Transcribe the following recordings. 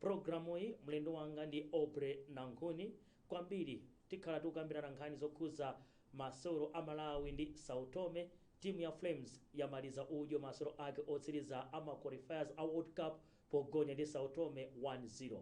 M'pulogalamuyi mlendo wanga ndi Aubrey Nankhuni. Kwambiri tikhala tikukambirana nkhani zokhudza masewero a Malawi ndi Sao Tome, timu ya Flames yamaliza udyo masewero ake otsiriza a ma qualifiers a World Cup pogonya ndi Sao Tome 1 0.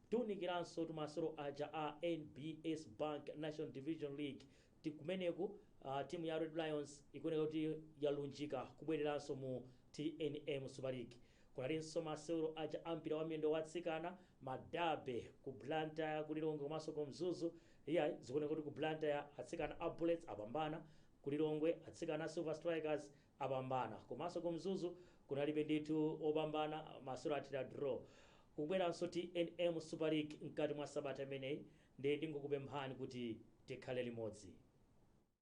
Tiunikiranso masewero aja a NBS Bank National Division League ti kumeneku timu ya Red Lions ikuoneka kuti yalunjika kubwereranso mu tnm Super League. Kunalinso masewero aja a mpira wa miyendo wa atsikana, ma Derby, ku Blantyre, ku Lilongwe komanso ku Mzuzu. Iyayi, zikuoneka kuti ku Blantyre atsikana a Bullets apambana, ku Lilongwe atsikana a Silver Strikers apambana komanso ku Mzuzu kunalibe ndithu wopambana, masewero athera draw. Kukubweranso tnm Super League mkati mwa sabata imeneyi nde ndingokupemphani kuti tikhale limodzi.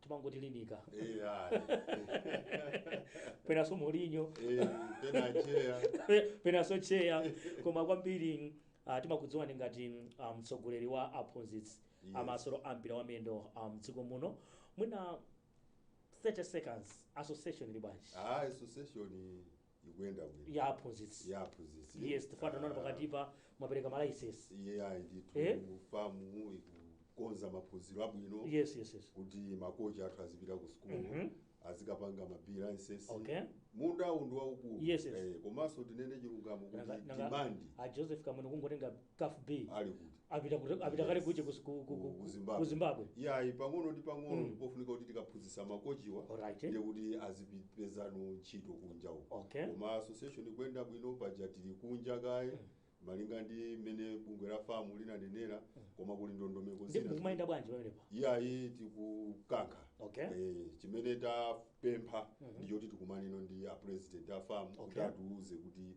timangotilinika Eh, ah, penanso Mourinho eh, pena acheya penanso tcheya koma kwambiri uh, timakudziwani ngati ah, mtsogoleri wa aphunzitsi Yes. a masewero ampira wa miyendo ah, mdziko muno mwina 30 seconds association ili bwanji ah, association ikuyenda bwino ya aphunzitsi ya aphunzitsi yes chifukwa tinaona pakatipa mwapereka malayisensi iye Eh? ndithu FAM ikukonza maphunziro abwino yes yes yes kuti makochi athu azipita ku sukulu Mhm. azikapanga ma B licence Okay. munda uwu ndi waukulu Yes, yes. Eh, komanso tinene chilungamo Nanga- kuti nanga- demand a joseph kamwene kungotenga caf b ali kuti apita kuti- apita kale kuche ku- ku- ku- ku- ku Zimbabwe. ku zimbabwe yayi pang'ono ndi pang'ono Mm. ndipofunika kuti tikaphunzitsa makochiwa Alright. ndiye kuti azipezanso ntchito kunja uko Okay. koma association ikuyenda bwino paja tili kunja kaye malinga ndi mmene bungwe la FAM linanenera koma kuli ndondomeko ndi zina mukumayenda bwanji pamenepa iyayi tikukankha Okay. Eh, chimene tapempha ndichoti tikumanenso ndi a president a FAM kuti Okay. atiuze kuti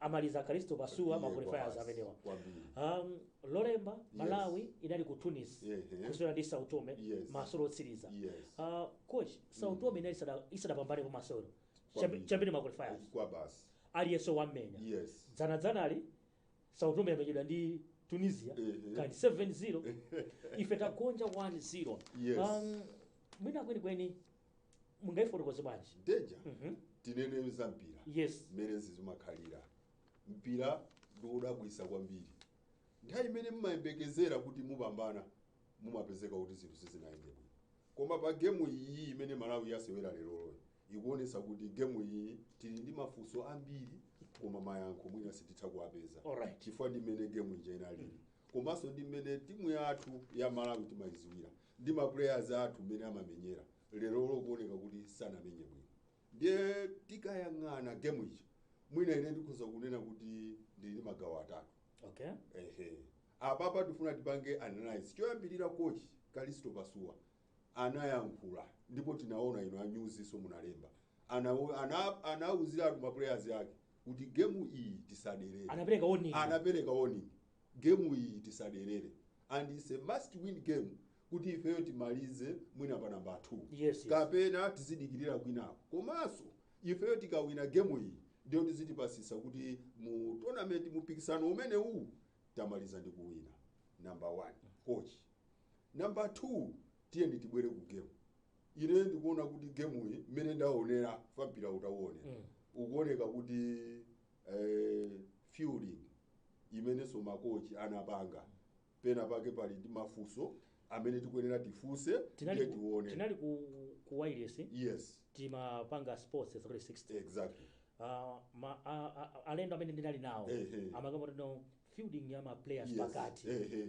amaliza kalisto pasuwa Iye maqualifiers amenewa kwambiri. um, lolemba malawi inali ku tunis Ehe. kusewera ndi sao tome Yes. masewero otsiriza Yes. uh, coach sao tome inali isada- isadapambane pa masewero Kwambiri. chiyambire maqualifiers kwa basi aliyense waimenya yes dzana dzanali sao tome yamenyedwa ndi tunisia Ehe. kani 7-0 ife tagonja 1-0 Yes. um, mwina kwenikweni mungaifotokoze bwanji game ija Mhm. tinene za mpira yes mmene zimakhalira mpira ndiwodabwisa kwambiri nthawi imene mumayembekezera kuti mupambana mumapezeka kuti zinthu sizinayende bwino koma pa gemu iyi imene malawi yasewera lolembayi ikuonesa kuti gemu iyi tili ndi mafunso ambiri koma mayankho mwina sititha kuwapeza alright chifukwa ndi mmene gemu ija inalili komanso ndi mmene timu yathu ya Malawi timayiziwira ndi ma players athu mmene amamenyera lerolo kuoneka kuti sanamenye bwino ndiye tikayang'ana game ija mwina ine ndikhoza kunena kuti ndili ndi magawo atatu okay ehe apapa tifuna tipange analyze choyambirira coach kalisto pasuwa anayankhula ndipo tinaona inu a news so munalemba ana ana anauziratu ma players ake kuti game iyi tisaderere Anapereka warning. anapereka warning game iyi tisaderere and it's a must win game kuti ifeyo timalize mwina pa namba 2 Yes, yes. kapena tizidikirira kwinako komanso ifeyo tikawina game iyi ndiyo tizitipasisa kuti mu tournament mupikisano umene uwu tamaliza ndi kuwina number 1 coach Number two, tiyeni tibwere ku game. Ine ndikuona kuti game iyi mmene ndaonera fe mpira utauone. Mm. Ukuoneka kuti fielding imenenso makochi anapanga pena pake pali ndi mafunso amene tikuyenera tifunse ndiye tinali ku, tione. tinali ku, ku wireless Yes, timapanga sports 360 exactly. Ah, ma, a, a, alendo amene ndinali nawo Ehe. amakamba kuti fielding ya ma players Yes. pakati Eh, eh.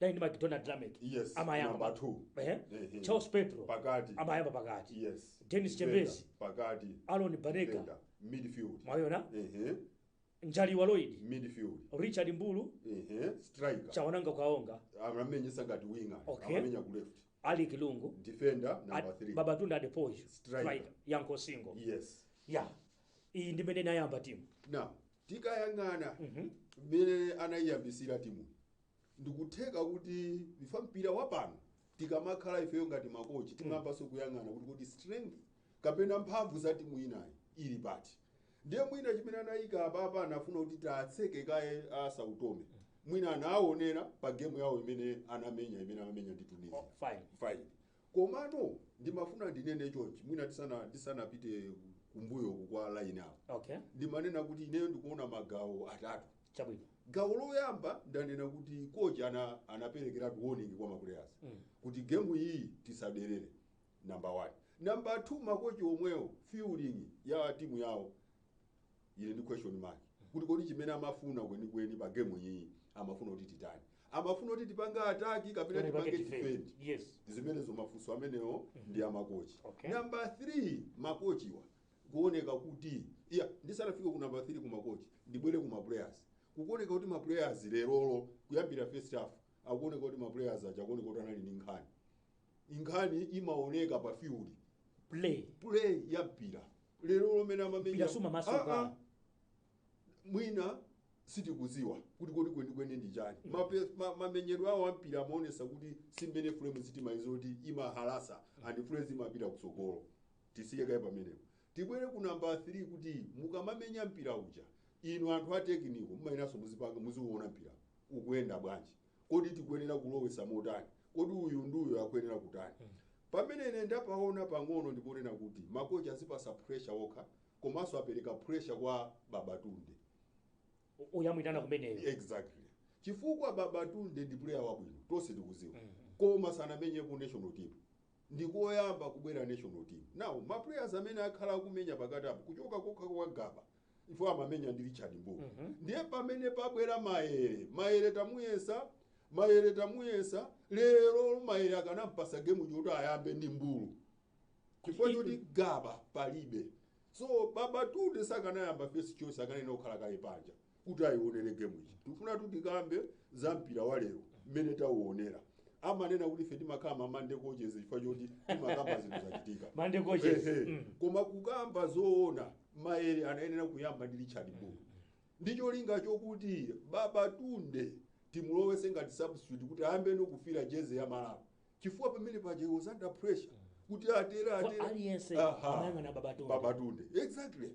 dali ndi mcdonald lameck Yes, amayamba number pa- two. Ehe. Ehe. charles petro Pakati. amayamba pakati yes Dennis Defender, Chembezi. pakati Aaron Banega. Defender, midfield mwayona ehe njaliwa lloyd midfield richard mbulu ehe striker chawanangwa kaonga amamenyesa ngati winger Okay. amamenya ku left alick lungu defender number Ad- 3 babatunde adepoju Striker. Striker, yankho singo yes ya iyi ndi mene nayamba timu now tikayang'ana mmene anayiyambisira timu ndikutheka kuti ife mpira wapano tikamakhala ifeyo ngati makochi timayambanso kuyang'ana kuti kodi strength kapena mphamvu za timu inayi ili pati ndiye mwina chimene anayika apapa anafuna kuti tatseke kaye a sao tome mwina anaawonera pa gemu yawo imene anamenya imene amamenya ndi tunisia Oh, fine. fine Komano ndimafuna ndinene chonchi mwina tisana ndisanapite kumbuyo uku kwa line up. Okay. Ndimanena kuti ineyo ndikuona magawo atatu. Chabwino. Gawo loyamba ndanena kuti kochi ana anaperekeratu warning kwa maplayers Mm. kuti gemu iyi tisaderere number 1. Number 2 makochi omwewo fielding ya timu yawo ili ndi question mark kuti kodi chimene amafuna kwenikweni pa game iyi amafuna kuti titani amafuna kuti tipange attack kapena Kapena tipange tipange defend. defend Yes. zimenezo ndi mafunso amenewo ndi amakochi Okay. namba 3 makochiwa kuoneka kuti iya ndisanafike ku namba 3 ku makochi ndibwere ku maplayers kukuoneka kuti maplayers lerolo kuyambira first half akuoneka kuti maplayers aja akuoneka kuti anali ndi nkhani inkhani imaoneka pa field play play ya mpira lero lomene amamenya Mpira sumamasuka. Ah, ah. mwina sitikuziwa kuti kodi kwenikweni ndi chani Mape- ma- mamenyedwe awo ampira amaonesa kuti simmene fulemu zi timaiziwa kuti imahalasa and fulemuzi imapita kutsogolo tisiye kaye pamenepo tibwere ku namba 3 kuti mukamamenya mpira uja inu anthu a tekiniko mumayenanso muzipanga muziwuona mpira ukuyenda bwanji kodi tikuyenera kulowesa motani kodi uyu ndi uyu akuyenera kutani pamene ine ndapaona pang'ono ndiponena kuti makochi azipasa pressure okha komanso apereka pressure kwa babatunde U- uyamwitana kumeneyo exactly chifukwa babatunde ndi player wabwino tonse tikuziwa koma sanamenyepo national team ndi koyamba kubwera national team now ma players amene akhala akumenya pakati apo kuchoka kokha kwa gaba iwo amamenya ndi richard mbulu ndiye pamene pabwera mayere mayere tamuyesa mayere tamuyesa lero mayere akanampasa gemu choti ayambe ndi mbulu chifukwa choti gaba palibe so babatunde sakanayamba first choice akanayenera kukhala kaye panja kuti ayionere gemu iyi tikufuna kuti tikambe za mpira wa lero mmene tauonera amanena kuti ife timakhala ma monday coaches chifukwa choti timakamba zinthu zachitika Monday coaches. Ehe. Mm. koma kukamba zoona maere anayenera kuyamba ndi richard mbulu ndi cholinga chokuti babatunde timulowese ngati substitute kuti ayambe nokufira jezi ya malawi chifukwa pamene paja he was under pressure kuti atera atera aliyense Aha. amayang'ana babatunde babatunde exactly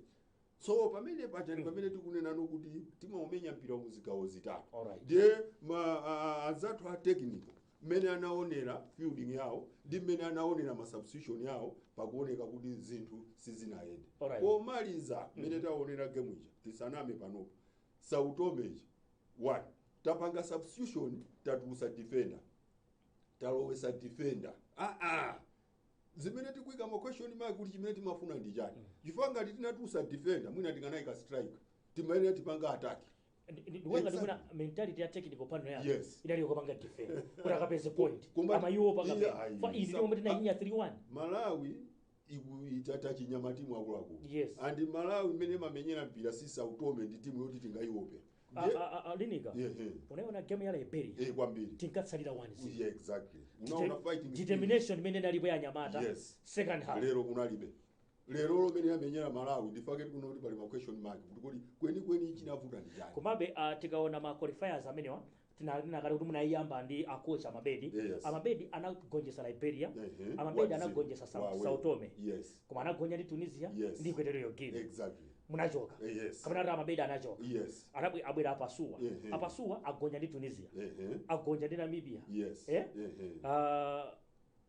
so pamene paja ndi pamene tikunenano kuti timaumenya mpira mu zigawo zitatu Alright. ndiye ma- a- anzathu a technical mmene anaonera fielding yawo ndi mmene anaonera ma substitution yawo pakuoneka kuti zinthu sizinayende Alright. pomaliza mmene taonera game ija tisaname panopo sao tome ija one tapanga substitution tatulusa defender talowesa defender aa zimene tikuika ma question mark kuti chimene timafuna ndi chani chifukwa ngati tinatulusa defender mwina tikanaika striker timayenera tipanga attack ndikuona Exactly. ndikuona mentality ya technical panel yake Yes. idali yokapanga defend kuti akapeze point Koma- ama iwo panga Yeah, ayi. fa izi tomwe tinainya 3-1 malawi iku- itata chinyama timu akuluakulu Yes. and malawi imene imamenyera mpira si sao tome ndi timu yoti tingaiwope A- Ndiye- a- a- a- linika Yeah, yeah. unaona game ya liberia eh kwambiri tinkatsalira 1 yeah exactly unaona fighting spirit. determination imene inalipo ya anyamata Yes. second half lero kunalibe lero mmene yamenyera malawi nchifukwa chake tikuti pali ma question mark kuti kodi kwenikweni chinavuta ndi chani komabe uh, tikaona ma qualifiers amenewa tinanena kale kuti munayiyamba ndi a coach amabedi Yes. amabedi anagonjesa liberia Ehe. amabedi Wadziko. anagonjesa Sao- Wawe. sao tome Yes. koma anagonja ndi tunisia Yes. ndi equatorial guinea Exactly. munachoka Eh, yes. kapena kuti amabedi anachoka Yes. Anabwe- abwera apasuwa Ehe. apasuwa agonja ndi tunisia Ehe. agonja ndi namibia Yes. Eh? Ehe. Ah,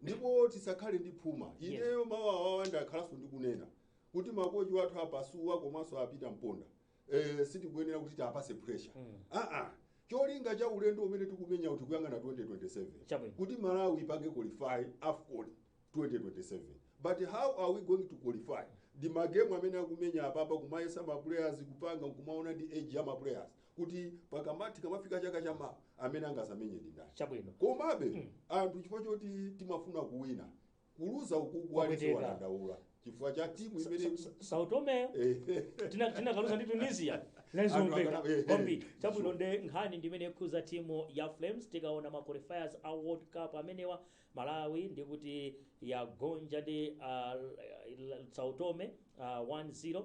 ndipo tisakhale ndi phuma ineyo mawu awawa ndakhalanso ndikunena kuti makochi wathu apasuwa komanso apita mponda eh, sitikuyenera kuti tiapase pressure aa cholinga cha ulendo umene tikumenya uti kuyang'ana 2027 Chabwino. kuti malawi ipange qualify afcon 2027 but how are we going to qualify ndi magemu amene akumenya apapa kumayesa ma players kupanga nkumaona ndi age ya ma players kuti pakamati tikamafika chaka cha mawa amene angazamenye ndi ndani chabwino komabe anthu chifukwa choti timafuna kuwina kuluza ukuku Kwapweteka. ali chowadandaula chifukwa cha timu imene Sao Tomeyo tina- tinakaluza ndi tunisia Anthu nanzomveka akana- eh, eh. kwambiri chabwino nde nkhani ndimene ikhuza timu ya flames tikaona ma qualifiers a world cup amenewa malawi ndikuti yagonja ndi uh, Sao Tome uh, 1-0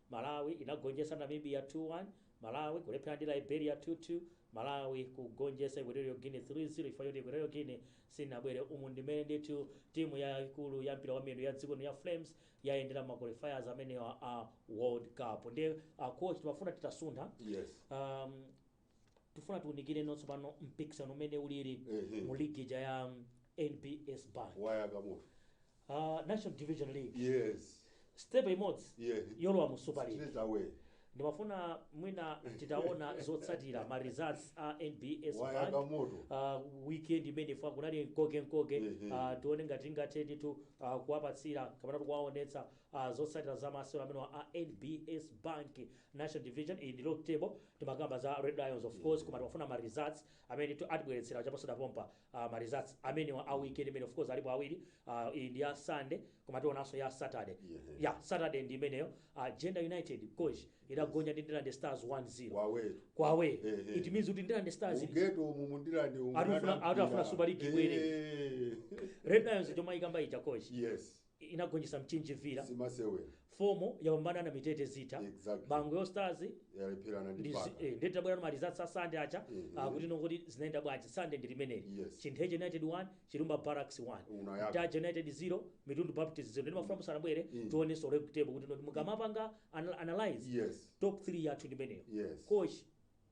Malawi inagonjesa Namibia 2 1, Malawi kulepherana ndi Liberia 2 2, Malawi kugonjesa Equatorial Guinea 3 0 chifukwa choti Equatorial Guinea sinabwere umu ndimene ndithu timu yaikulu ya mpira wa miyendo ya dziko lino ya Flames yayendera ma qualifiers amenewa a World Cup ndiye a coach timafuna titasuntha Yes. um, Tifuna tiunikirenso tsopano mpikisano umene ulili Ehe. mu ligi ija ya NBS Bank. wayaka moto Uh, National Division League. yes Step imodzi Yeah. yolowa mu Super League. straight away Ndimafuna mwina titaona zotsatira ma results a NBS wayaka Bank. moto Uh, weekend imeneyi ifa kunali nkoke nkoke Mhm. uh, tione ngati tingathe ndithu uh, kuwapatsira kapena tikuwaonetsa uh, zotsatira za masewero amene a NBS Bank National division iyi ndi log table timakamba za red lions of course koma timafuna ma results amene ndithu atibweretsera chaposachedwapa pompa ah, ma results amenewa a weekend imene of course alipo awiri ah, iyi ndi ya sunday koma tionanso ya saturday Yeah. ya saturday ndi imeneyo ah, Jenda United coach idagonja ndi ndilande stars 1-0 wawetu kwawe Eh, eh. it means kuti ndilande stars ili- mu ghetto umu mu Ndilande umu Atafuna- anapita. atafuna Super League ibwere. Eh, red lions timayikamba ija coach yes inagonjetsa Mchinji Villa, simasewera FOMO yapambana ndi Namitete Zitha, Exactly. Bangwe All Stars yalepherana ndi ndi zi- Baka eh, ndiye tabwerano ma results a Sande acha Mhm. ah, kuti nongoti zinaenda bwanji Sande ndi limeneli Yes. Chintheche United 1 Chilumba Barracks 1 Unayaka. Ntaja United 0 Mitundu Baptist 0 ndi mafuna musanabwere Mm. tionenso league table kuti noti mukamapanga anal- analyze yes top 3 yathu ndi imeneyo yes coach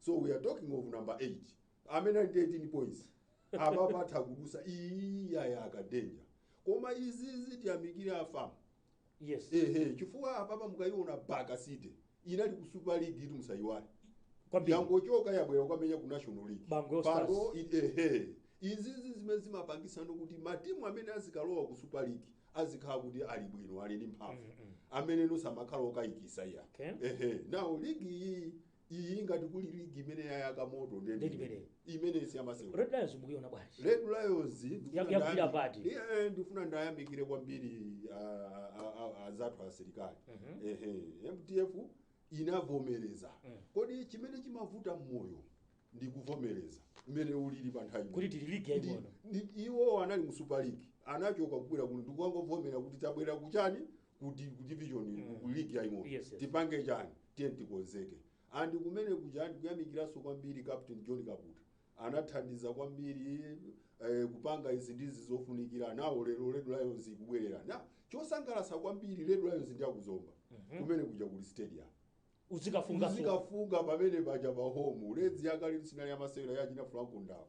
so we are talking of number 8 amene ali ndi 18 points apapa atha kudusa iyi yayaka danger koma izizi tiyamikire a FAM yes ehe chifukwa apapa mukayiona baka city inali ku super league itu musayiwale kwambiri yangochoka yabwera kwamenya ku national league Bangwe Stars. Pano, i- ehe izizi zimene zimapangisa kuti matimu amene azikalowa ku super league azikhala kuti ali bwino ali ndi mphamvu amene osamakhala okayikisa iya Okay. ehe now league iyi league iyi ngati kuli ligi imene yayaka moto Ndi imeneyi. imene siyamasewera Red lions mukuiona bwanji red lions ndikufuna Ya- yakupita ndayambi- pati? Ndi- eh, ndifuna ndayamikire kwambiri ah, ah, ah, azathu asilikali Mhm. Ehe, mdf inavomereza Mm. koti chimene chimavuta mmoyo ndi kuvomereza mmene ulili pa nthawi kuti tili ligi Ndi- yaying'ono ndi- iwo anali mu super league anachoka kubwera kuno ndikukangovomera kuti tabwera kuchani ku di- ku division iyi, ku- ku league yaing'ono Yes, yes. tipange chani tiye tikonzeke and kumene kuja ndikuyamikiranso kwambiri captain john kaputa anathandiza kwambiri eh, kupanga izi ndizi zofunikira nawo lero red lions ikubwerera na chosangalatsa kwambiri red lions ndi akuzomba kumene kuja ku stadium uzikafunga so. uzikafunga pamene paja pa home Reds yakale sinali yamasewera yachina franco ndawo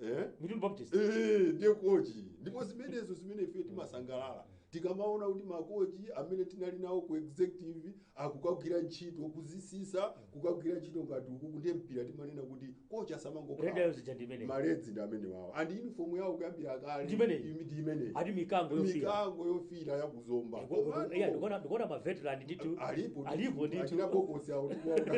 eh? mitundu baptist Eh, ndiye kochi ndipo zimenezo zimene ife timasangalala tikamaona kuti makochi amene tinali nawo ku executive akukagwira ntchito kudzitsitsa kukagwira ntchito ngati ukuko ndiye mpira timanena kuti kochi Red Lions asamangokhala zija ndi imeneyi ma Reds ndi amene wawo and uniform yawo kuyambira kale Ndi imeneyi. imi- ndi imeneyi ati mikango yofira mikango yofira yakuzomba Komano, ndikuona ndikuona maveteran ndithu alipo alipo achina ndithu bokosi awo ndikuwaona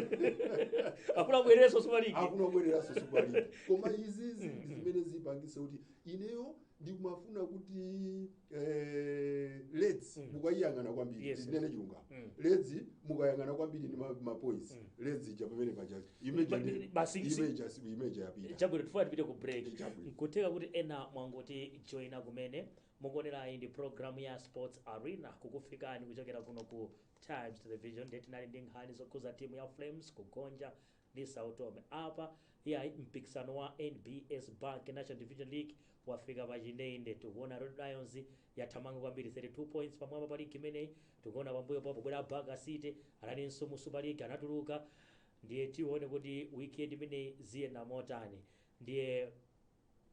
akufuna abwerenso simaliki akuna kubwereranso super league koma izizi ndi zimene zipangitse kuti ineyo ndikumafuna kuti eh, Reds mukayiyang'ana kwambiri Yes, ndinene yes. chilungamo Mm. Reds mukayiyang'ana kwambiri ndi ma- mapoints Reds ija pamene paja image Ba- ndi- basi si- image asi- image yapita chabwino tifuna tipite ku break Chabwino. nkutheka kuti ena mwangoti joina kumene mukuonerayi ndi programu ya sports arena kukufikani kuchokera kuno ku times television nde tinali ndi nkhani zokhuza timu ya flames kugonja ndi Sao Tome. Apa yayi mpikisano wa NBS Bank National Division League wafika pa chindende. Tikuona Red Lions yathamanga kwambiri 32 points pamwamba pa ligi imeneyi. Tikuona pambuyo pawo pobwera Baka City analinso mu Super League anatuluka. Ndiye tione kuti weekend imeneyi ziyenda motani. Ndiye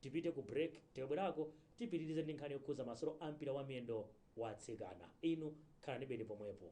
tipite ku break tikabwerako tipitirize ndi nkhani yokhuza masewero a mpira wa miyendo wa atsikana. Inu khalanibeni pomwepo.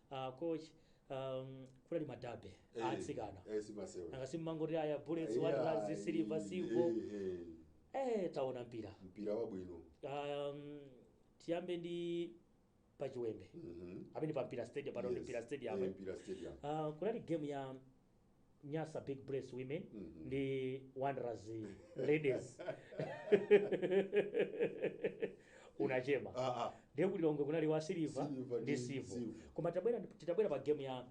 Ah, koma um, kunali ma derby Eh, atsikana eh, simasewe. nanga simmangoti aya bullets Yeah, Wanderers silver eh, silver eh, eh. eh taona mpira mpira wabwino um, tiyambe ndi pachiwembe Mhm. amene pa mpira stadium pano ndi Yes. mpira stadium Eh, eh. mpira stadium Ah, kunali game ya nyasa big Bullets women ndi wanderers ladies unachema Ah, ah. ndiye ku Lilongwe kunali wa siliva Silver ndi ndi Civo Silver. koma tabwera titabwera pa game ya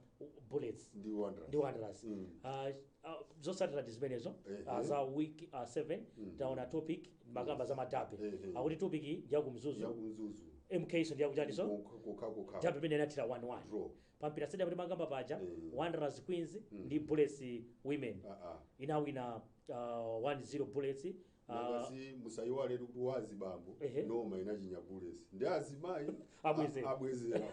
bullets ndi Wanderers. ndi wanderers Mm. Ah, ah, zotsatira ndi zimenezo Ehe. ah, za week 7 taona Topik mumakamba za ma derby Ehe. akuti Topik ndi yakumzuzu yakumzuzu MK so ndi yakuchaniso kokha kokha derby imene inathera 11 draw pa Mpira Stadium timakamba paja Mm. wanderers queens Mm. ndi bullets women Ah, ah. inawina uh, 1-0 bullets uh, Nangasi musayiwale kuti wa azibambo Ehe. noma inachinya bullets ndi azimayi Abweze. a- abwezera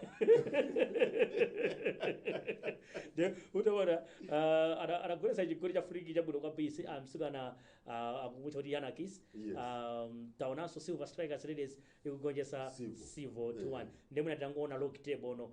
nde utaona uh, ana- anagolesa chigoli cha free kick chabwino kwambiri mtsikana uh, akumutcha kuti yanakis Yes. um, taonanso silver strikers ladies ikugonjesa Civo. sivo 2-1 Yeah. nde mwina tingoona log table ono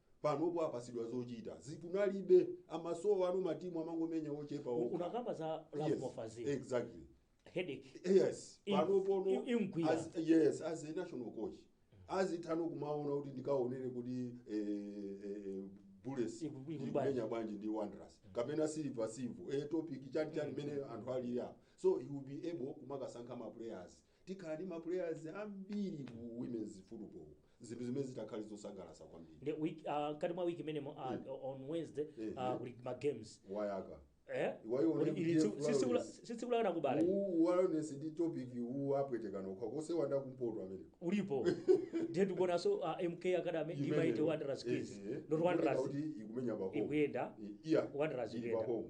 panopo apasidwa zochita zija kunalibe amasowa ana matimu amangomenya ochepa okha. unakamba za love Yes, mofa Fazili exactly headache yes Im- panopono im- imgwira. as- yes as a national coach azithano kumaona kuti ndikaonere kuti eh, eh, bullets Iku- iku- ikumenya bwanji ndi wanderers kapena silver civo eh, topic chani chani mene anthu ali apo so he will be able kumakasankha ma players tikhala ndi ma players ambiri ku women's football zinthu zimene zitakhale zosangalatsa kwambiri nde week uh, mkati mwa week imenemo uh, on wednesday Eh, uh, eh. kuli ma games wayaka eh Iwayo Kuli- ndi ili tsiku- Jeff sitsikula- Lawrence. si tsiku la kanakubala uwu wellness ndi topic uwu apwetekana okhaokha osewanda kumpoto amene ulipo ndiye tikuonanso uh, mk academy Imeneyo. mighty wanderers Eh, kids eh. not Ikuoneka wanderers kuti ikumenya pa home ikuyenda I- iya Wanderers ili pa ikuyenda. home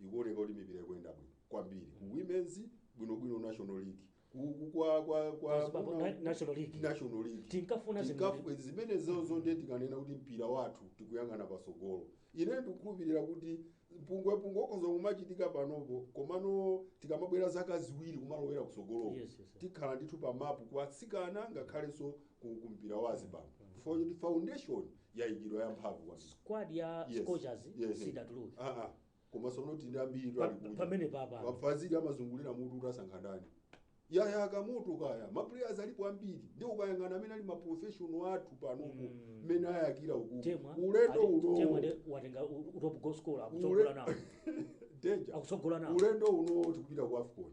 ikuoneka kuti mipira ikuyenda bwino kwambiri ku women's bwinobwino national league ku- ku- kwa kwa kwa Kwa Zimbabwe kuna- na- National League. national league Tinkafuna Tinkafu- zimene- zimenezozo ndiye tikanena kuti mpira wathu tikuyang'ana patsogolo ine ndikukhulupirira kuti mpungwepungwe ukhoza kumachitika panopo komano tikamabwera zaka ziwiri kumalowera kutsogoloko Yes, yes, yes. tikhala ndithu pa mapu kwa atsikana ngakhalenso ku ku mpira wa azibambo for the foundation yaikidwa yamphamvu kwambiri squad ya Yes. scorchers Yes. siidatuluke Ah, ah. komanso tili ndi ambiri Pa- ali kuja. pamene papa. a Fazili amazungulira mutu kuti asankha ndani yayaka moto kaya maplayers alipo ambiri ndi ukayang'ana amene ali maprofessional athu panopo Mm. mmene ayakira uku temwa ulendo ali- uno temwa ndi watenga u- u- top goal scorer akutsogola nawo danger akutsogola nawo ulendo uno tikupita ku afcon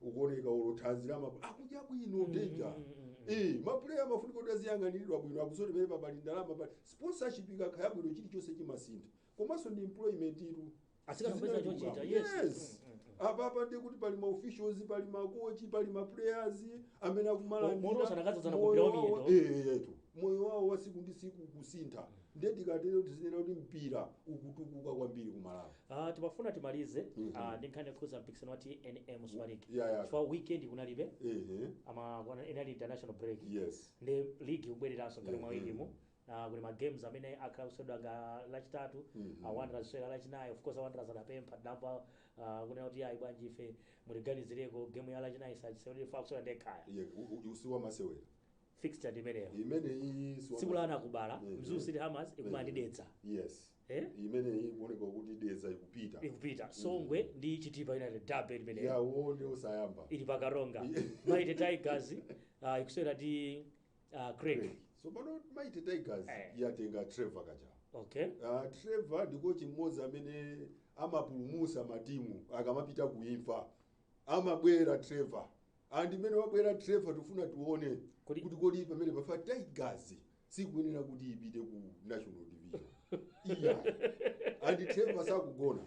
ukuoneka olo thanzi lawo akudya bwino danger Eh, mapuleya amafunika kuti aziyang'aniridwa bwino akusonyeza kuti pamene pali ndalama pali sponsorship ikakhala bwino chilichonse chimasintha komanso ndi employment itu Atsikana Zina kupeza chochita, chilungamo. yes. yes apa apa ndi kuti pali maofficials pali makochi pali maplayers amene akumalandira Mo- moto sanakadzadzana moyo ku mpira wawo- wamiyendo. eh, eh, etu. moyo wawo wa siku ndi siku ukusintha ndiye tikatero tizinena kuti mpira ukutukuka kwambiri ku malawi Ah, timafuna timalize ah, ndi nkhani yokhuza mpikisano wa tnm super league Yeah, yeah. chifukwa weekend kunalibe Ehe. ama kuna- inali international break Yes. ndiye league ikubwereranso ngati mwa Mhm. wikimu Ah, kuli ma games amene akhale akuseweredwa ngati lachitatu Mhm. ah, wanderers kusewera lachinayi of course wanderers adapempha tinamva ah, kunena kuti ayi bwanji ife mutiganizireko game ya lachinayi tisasewere ife akusewera ndi ekhaya Ye- u- u- usiwa masewera fixture ndi imeneyo Imene iyi silver tsiku la anakubala Mhm. mzuu city hammers ikumana ndi dedza yes eh? imeneyi kuoneka kuti dedza ikupita ikupita songwe ndi chitipa united derby imeneyo yawo ndi osayamba ili pa karonga mighty tigers uh, ikusewera ndi uh, creck so pano mighty tigers Eh. yatenga trevor kajawa okay Uh, trevor ndi kochi mmodzi amene amapulumusa matimu akamapita kuimfa amabwera trevor and mmene wabwera trevor tikufuna tione Kodi- kuti kodi pamenepa tigers sikuyenera kuti ipite ku national division iyayi and trevor sakugona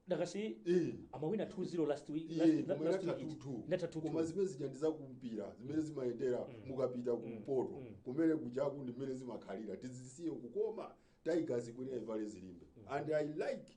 dakasi Eh. amawina 2-0 last week Iye, last- koma last inatha week it- 2-2. inatha 2-2. koma zimene zija ndi zakumpira zimene zimayendera mukapita kumpoto kumeneku chaku ndi mmene zimakhalira tizisiyeko koma tigers ikuyenera ivale zilimbe and i like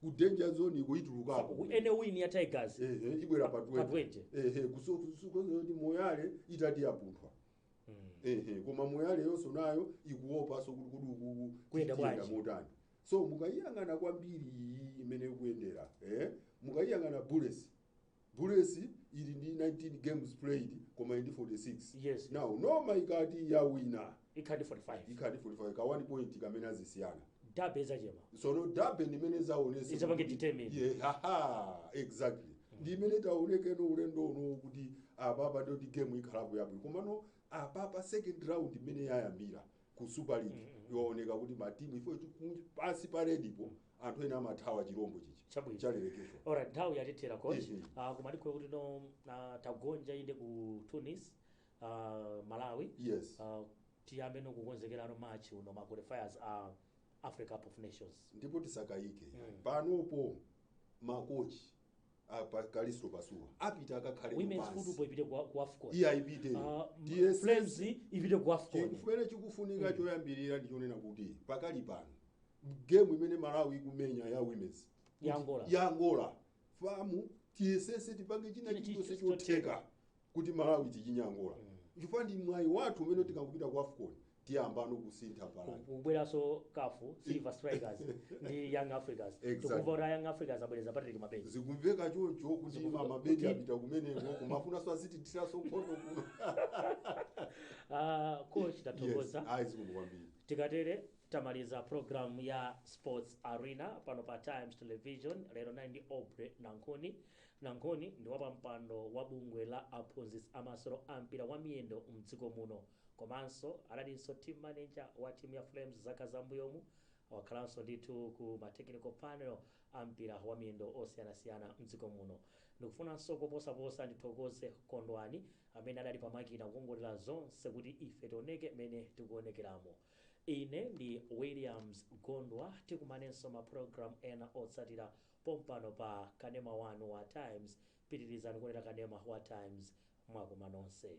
ku danger zone iko itulukako and win ya tigers ehe ibwera pa Pa 20 ehe kusokusokoza kuti moyale itati yapunthwa ehe koma moyale yonso nayo ikuopa so kuti kodi ukuku Tikuyenda tiyenda bwanji? motani so mukayiyang'ana kwambiri iyi imene ikuyendera eh mukayiyang'ana bullets Bullets ili ndi 19 games played koma ili ndi 46. Yes. Now Noma ikati yawina ikhala ndi 45 ikhala ndi 45 ka 1 point kamene azisiyana. derby izachema Sono derby ndi imene izaonesa. Izapange kuti- determine. Yeah, haha, exactly. Ndi imene tionekeno ulendo uno kuti apapa ndi yoti game ikhalapo yabwino. Komano apapa second round imene yayambira ku Super League yaoneka kuti matimu ifo kuti kunja- pansi pa red-po anthu eni amathawa chirombo chichi Chabwino. chalerekezo alright nthawi yatithera coach Mhm. Ah, koma ndikhulupirira kuti no ah, tagonja inde ku tunis ah, malawi yes Ah, tiyambe nokukonzekerano March uno ma qualifiers a africa cup of nations ndipo tisakayike Mm. panopo makochi apa kalisto pasuwa apite akakhale women's pansi. football ipite ku ku afcon iyeyo ipite Ah, m- DSS flames ipite ku afcon chimene chikufunika choyambirira ndi chonena kuti pakali pano game imene malawi ikumenya ya women's Ya Angola. ya angola FAM tiyesese tipange china China chilichonse chilichonse chotheka kuti malawi tichinyangule chifukwa ndi mwayi wathu umene tikangopita ku afcon tiyambano kusintha pali kubweranso kafu silver strikers ndi young africans Exactly. tikumva kuti a young africans abwereza patrick mabedi zikumveka choncho kuti Zikumveka mabedi kuti- apita kumeneko kumafunanso azitithiranso nkhondo kuno Ah, coach yes tathokoza ayi zikomo kwambiri tikatere tamaliza program ya sports arena pano pa times television lero ndinali ndi aubrey nankhuni Nankhuni ndi wapampando wa bungwe la aphunzitsi a masewero a mpira wa miyendo mdziko muno komanso analinso team manager wa timu ya Flames zaka za mbuyomu. Wakhalanso ndithu ku ma technical panel a mpira wa miyendo osiyanasiyana mdziko muno. Ndikufunanso koposaposa ndithokoze Kondwani amene adali pa makina kukongoletsa zonse kuti ife tioneke mmene tikuonekelamu. Ine ndi Williams Gondwa tikumanenso ma program ena otsatila pompano pa kanema wanu wa times pitilizani kuonera kanema wa times mwakoma nonse